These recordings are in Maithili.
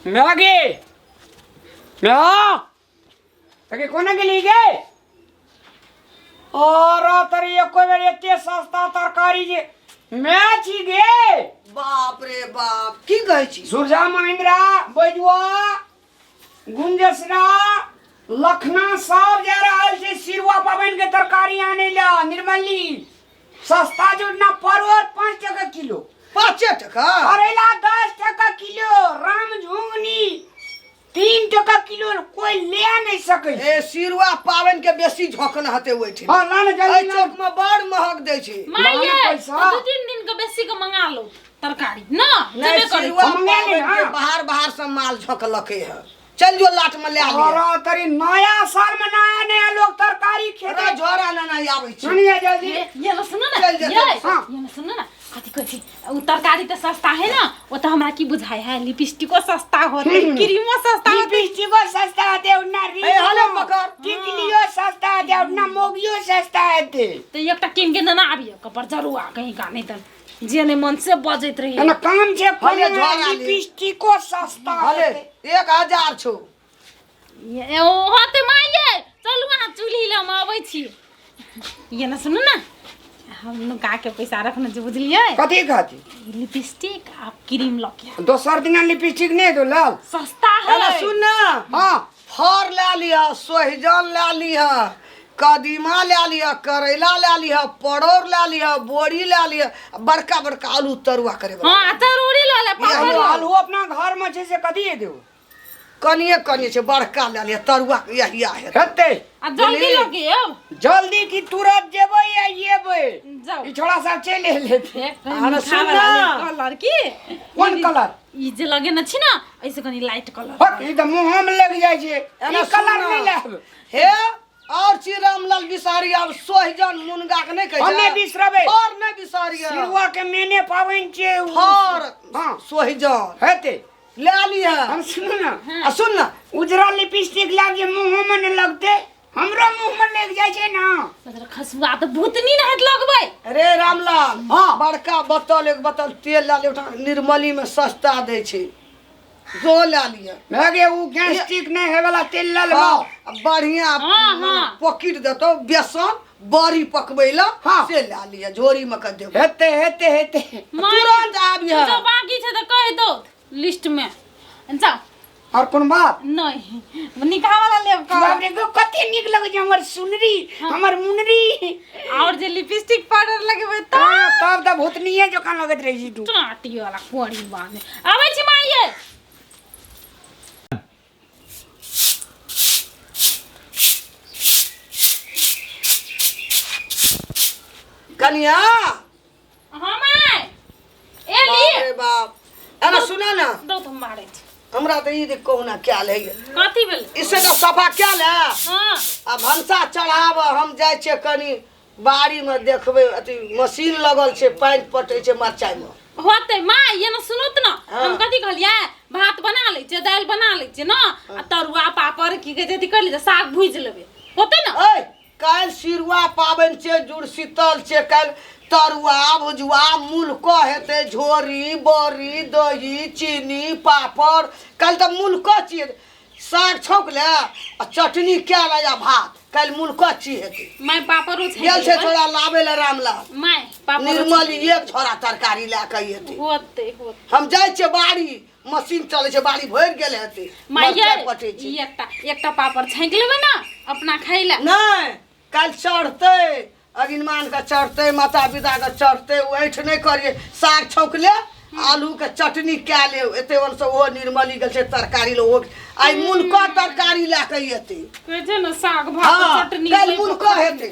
मेवा की मेवा तके कोना के लिए गए और तरी एको बेर एते सस्ता तरकारी जे मैच ही गे बाप रे बाप की कहै छी सुरजा महिंद्रा बैजुआ गुंजसना लखना सब जा रहल छै सिरुआ पाबनि के तरकारी आने ला निर्मली सस्ता जोड़ना परोर पाँच टका किलो पाँचे टका करेला दस टका किलो राम झुंगनी तीन टका किलो कोई ले नहीं सके ए सिरुआ पाबनि के बेसी झोकन हते हुए छै हाँ लान एहि जल्दी चौक में बड़ महग दै छै माइये माने पैसा? दू तीन दिन के बेसी के मंगा लो तरकारी ना नहीं जेबे करी सिवा हम मंगा लेब, हाँ। बाहर बाहर से माल झोंकलके है चल जो लाट में ले आ और लिया तरी नया साल में नया नया लोग तरकारी अरे खेते झोरा ना नहीं आबै छी सुनिए जल्दी ये ये ना सुनो ना चल, चल, ये चल, हाँ। ये ना सुनो ना कथी कहै छी उ तरकारी त सस्ता है ना ओ त हमरा की बुझाय है लिपस्टिको सस्ता होते क्रीमो सस्ता होते लिपस्टिको सस्ता है देव ना री ए, हलो पकड़। टिकलियो सस्ता है देव ना मोगियो सस्ता है दे त एकटा किन के देना आबियो कपर जरुआ कहीं का नहीं त जे नहि मन से बजैत रही एना काम जे भले कोना झोरा ले। लिपस्टिको सस्ता भले हेतै। एक हजार छौ ए, ओ होते माये चलू अहाँ चूल्ही लऽ हम अबै छी ये ने सुनू ने हम नुका के पैसा रखने छी बुझलियै कथी कहती ई लिपस्टिक आ क्रीम लऽ के दोसर दिना लिपस्टिक नहि दो लाल सस्ता है अरे सुन ना हाँ फर लए लिहऽ सोहिजन लए लिहऽ कदीमा लए लिहऽ करैला लए लिहऽ परोर लए लिहऽ बोरी लए लिहऽ आ बड़का बड़का आलू तरुआ करे बला हाँ तरूरी लऽ ले पापड़ आलू आलू अपना घर में छै से कथी हेतै ओ कनिए कनिए छै बड़का लए लिहऽ तरुआ के यही आ हेतै हेतै आ जल्दी लऽ के आउ जल्दी की तुरंत जेबै या येबै जाउ ई छोड़ा सब चलि एलै एक आ हमरा सुन ना। लड़की कोन कलर ई जे लगे न छी ना ऐसे कनी लाइट कलर हट ई त मुंह में लग जाय छै एना ई कलर सुन। नहीं लाब हे और चीज रामलाल बिसारी अब सोहिजन मुनगा के नहीं कहे हम नहीं बिसरबे। और नहीं बिसारी सिरवा के मेने पावन छै उ। और हां सोहिजन हेते ले आली है हम सुनू ना आ सुन ना उजरा लिपस्टिक लाग जे मुंह में न लगते हमरो मुंह में लग जाय छै ना तोरा खसुआ तऽ भूतनी ना हाथ लगबै अरे रामलाल हाँ। बड़का बोतल एक बोतल तेल ला ले उठा निर्मली में सस्ता दे छे जो ला लिया लगे उ गैस्ट्रिक नहीं है वाला तेल ला लेबो हाँ, आ बढ़िया हाँ, मने हाँ। पकिट देतो बेसन बड़ी पकबै ला हाँ। से ला लिया झोरी में कर देबो हेते हेते हेते माय- तुरंत आब तू यहाँ तो बाकी छै तऽ कहि दो लिस्ट में जाओ और कौन बात नहीं निकाह वाला ले बाप रे गो कते निक लगे छै हमर सुनरी हमर मुनरी और जे लिपस्टिक पाउडर लगेबे त हां तब त भूतनीए जकां लगत रही छी तू टाटी वाला कोड़ी बाने आबै छी माइये कनिया हम आय ए बाप ली रे बाप अरे सुना ना दो तुम मारे छी। हमरा तो ई देख कहुना क्या ले कथी भेल इससे तो सफा क्या ले हाँ आ भनसा चढ़ाब हम जाइ छियै कनी बाड़ी में देखबै अथी मशीन लगल छै पानि पटै छै मरचाइ में होते माँ ये ना सुनो तो ना हाँ। हम कथी कहलिए भात बना ले जे दाल बना ले जे ना आ तरुआ पापड़ की कहे जदी कर ले जे, साग भूज लेबे होते ना ऐ काल्हि सिरुआ पाबनि छै जुड़शीतल छै काल्हि तरुआ भुजुआ मुल्को हेतै झोरी बड़ी दही चीनी पापड़ काल्हि तऽ मुल्को छियै साग छौक ले आ चटनी कए ले आ भात काल्हि मुल्को छी हेतै माय पापड़ो छै गेल छै थोड़ा लाबे ले रामलाल माय पापड़ निर्मल एक झोरा तरकारी लए कऽ एतै होतै होतै हम जाइ छियै बाड़ी मशीन चलै छै बाड़ी भरि गेल हेतै माइये मरचाइ पटै छै ई एकटा एकटा पापड़ छाँक लेबै ने अपना खाइ लए नहि काल्हि चढ़तै अरिनमानके चढ़तै माता पिताके चढ़तै ओ ऐठ नहि करिए साग छौँक ले आलूके चटनी कए ले एते ओनसँ ओहो निर्मली गेल छै तरकारी ले ओहो आइ मुनकर तरकारी लए कऽ एतै कहै छै ने साग भात हँ चटनी काल्हि लए कऽ मुनकर खा हेतै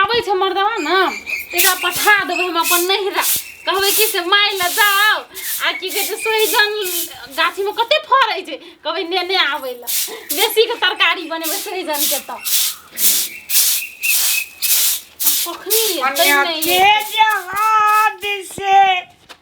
आबै छै मर्दवा ने एकरा पठा देबै हम अपन नहिरा कहबै कि से माय लए जाओ आ की कहै छै सोहिजन गाछीमे कते फड़ै छै कहबै नेने आबै लए बेसीके तरकारी बनेबै सोहिजनके तऽ कखनी एतै नहि एतै।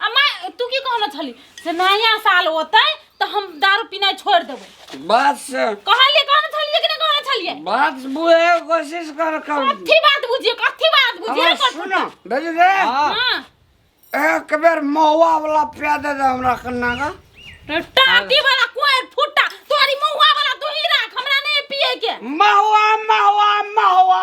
आ माय तू की कहलो छली से नया साल होतै तऽ हम दारू पीनाइ छोड़ देबै बात से कहलिए कहने छलिए कि नहि कहने छलिए बात बुझे के कोशिश कर कर कथी बात बुझिए कथी बात बुझिए हमरा सुनो भेज दे हाँ। हां एक बेर महुआ वाला पिया दे दे हमरा कन्ना का टाटी वाला कोई फुटा तोरी महुआ वाला तू ही राख हमरा नहीं पिए के महुआ महुआ महुआ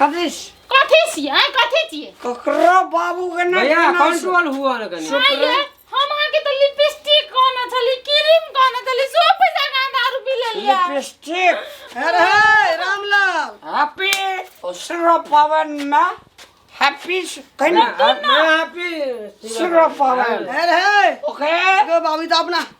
कथी से? कथी छियै आँय, कथी छियै ककरो बाबू के ना भैया बिना से- कंट्रोल हुआ ना कनी आँय, ये, हम अहाँके तऽ लिपस्टिक कहने छली क्रीम कहने छली सब पैसा कहाँ दारू पी लेलियै लिपस्टिक अरे हे, रामलाल हैप्पी और सिर्फ पवन में हैप्पी कहीं मैं हैप्पी सिर्फ पवन अरे हे, ओके एगो बाबू ई तऽ अपना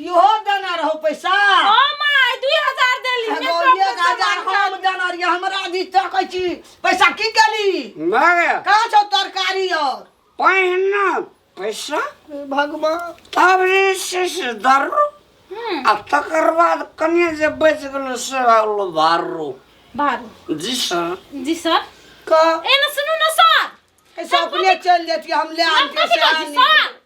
इहो देना रहो पैसा ओ माय 2000 देली एगो मेकअप एक के हजार सामान हम देना रही हमरा दी तकै छी पैसा की केली मगे कहाँ छौ तरकारी और पहिना पैसा हे भगवान तब जे छै से दर्रो हम्म, आ तकर बाद कनिए जे बचि गेलो से भऽ गेलो भारो बारू जी सर जी सर क ए न सुनू न सर ऐसा अपने चल जेती हम ले आन हम के कथी से कहै छी आनी सर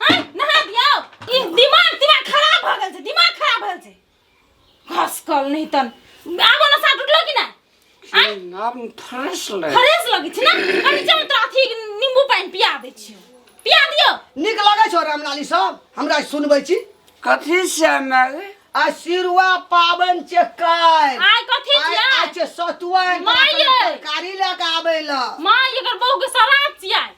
हैं नहा दियो ई दिमाग दिमाग खराब भ गेल छै दिमाग खराब भ गेल छै घास कल नहीं तन आबो ना साट उठलो कि ना आय आब फ्रेश ले फ्रेश लगै छै ना अरे चल तो अथी नींबू पानी पिया दै छियो पिया दियो नीक लगै छौ रामलाली सब हमरा सुनबै छी कथी से माय आ सिरुआ पाबनि छै काल्हि आय कथी आइ छिया आइ छै सतुआ माये! तरकारी लऽ कऽ आबै लऽ माँ एकर बहू के सराप छिया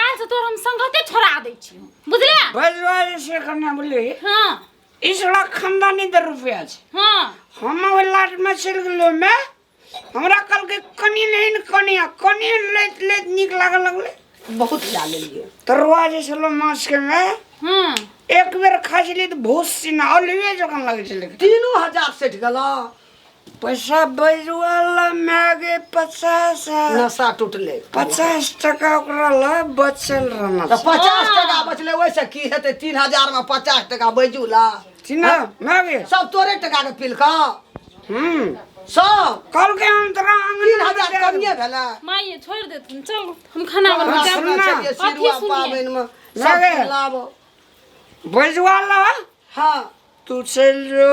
काल से तोर हम संगते छोड़ा दै छी बुझले बजवारी से करना बोले हां इसड़ा खानदानी दर रुपया छे हां हम ओ लाट में चल गेलो में हमरा कल के कनी नहीं न कनी आ कनी लेत लेत निक लागल लगले बहुत खिला लेलिए तरवा जे छलो माछ के में हां एक बेर खा छली त भूस सिना अलवे जखन लगे छले तीनों हजार सेठ गला पैसा बजवा ला मागे पचास नशा टूटले पचास टका ओकरा ला बचल रहना तऽ पचास टका बचले ओहिसँ की हेतै तीन हजार मे पचास टका बैजू ला चिन्ह मागे सब तोरे टका के पिलका हम्म सब कल के हम तोरा तीन हजार अंगना कमिए भेला माँ ये छोड़ देते हैं, चलो हम खाना हमरा बनाते हैं। सुनना चाहिए सिरुआ अथी सुनिए। पाबनि मे सब लागे। लाबो बजवा ला हाँ तू चल जो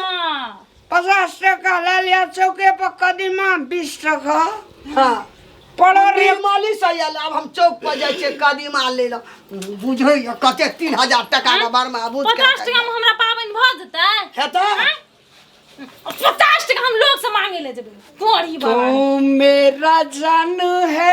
हाँ, पचास टका ले लिया चौके पर कदीमा बीस टका हाँ पड़ो रे रे माली से आयल अब हम चौक पर जाइ छियै कदीमा ले ल बुझै या कते तीन हजार टाका के बारे मे आबू पचास टका में हमरा पाबनि भऽ जेतै हेतै आँय? पचास टका हम लोग से मांगे ले जेबै तोरी बाबा तुम मेरा जान है